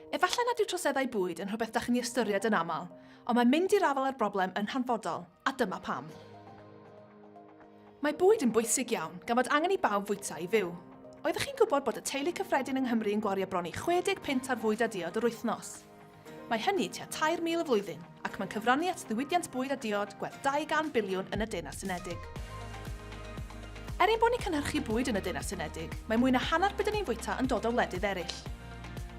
Efallai nad yw troseddau bwyd yn rhywbeth da chi'n ei ystyried yn aml, ond mae mynd i'r afael â'r broblem yn hanfodol, a dyma pam. Mae bwyd yn bwysig iawn, gan fod angen i bawb fwyta i fyw. Oeddech chi'n gwybod bod y teulu cyffredin yng Nghymru yn gwario bron i 60 punt ar fwyd a diod yr wythnos? Mae hynny tua 3,000 y flwyddyn, ac mae'n cyfrannu at ddiwydiant bwyd a diod gwerth 200 biliwn yn y Deyrnas Unedig. Er ein bod ni'n cynhyrchu bwyd yn y Deyrnas Unedig, mae mwy na hanner be' 'da ni'n fwyta yn dod o wledydd eraill.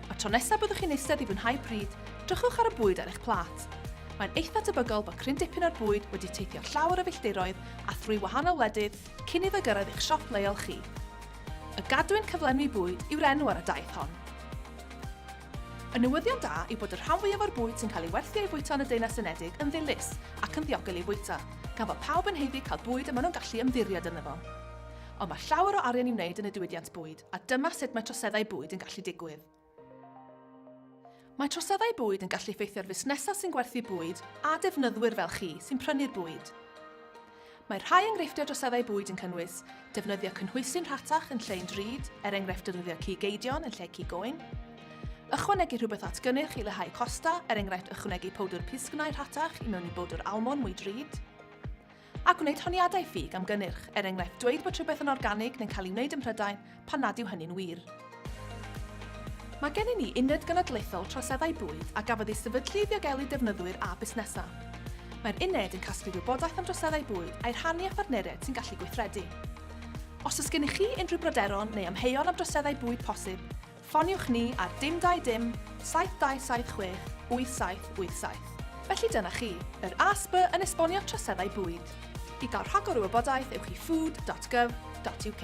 Y tro nesa' byddwch chi'n eistedd i fwynhau pryd, drychwch ar y bwyd ar eich plât. Mae'n eitha' tebygol bod cryn dipyn o'r bwyd wedi teithio llawer o filltiroedd a thrwy wahanol wledydd cyn iddo gyrraedd eich siop leol chi. Y gadwyn cyflenwi bwyd yw'r enw ar y daith hon. Y newyddion da yw bod y rhan fwyaf o'r bwyd sy'n cael ei werthu a'i fwyta yn y Deyrnas Unedig yn ddilys ac yn ddiogel ei fwyta, gan fod pawb yn haeddu cael bwyd y maen nhw'n gallu ymddiried ynddo fo. Ond mae llawer o arian i'w wneud yn y diwydiant bwyd, a dyma sut mae troseddau bwyd yn gallu digwydd. Mae troseddau bwyd yn gallu effeithio ar fusnesau sy'n gwerthu bwyd a defnyddwyr fel chi sy'n prynu'r bwyd. Mae rhai enghreifftiau droseddau bwyd yn cynnwys defnyddio cynhwysi'n rhatach yn lle'n drud, er enghraifft defnyddio cig eidion yn lle cig oen, ychwanegu rhywbeth at gynnyrch i leihau costau, er enghraifft ychwanegu powdr pisgnau rhatach i mewn i bowdr almon mwy drud, a gwneud honiadau ffug am gynnyrch, er enghraifft dweud bod rhywbeth yn organig neu'n cael ei wneud ym Mhrydain pan nad yw hynny'n wir. Mae gennym ni Uned Genedlaethol Troseddau Bwyd a gafodd ei sefydlu i ddiogelu defnyddwyr a busnesau. Mae'r uned yn casglu gwybodaeth am droseddau bwyd a'i rhannu â phartneriaid sy'n gallu gweithredu. Os oes gennych chi unrhyw bryderon neu amheuon am droseddau bwyd posib, ffoniwch ni ar dim dau dim 7276 8787. Felly dyna chi, yr ASB yn esbonio troseddau bwyd. I gael rhagor o wybodaeth ewch i food.gov.uk.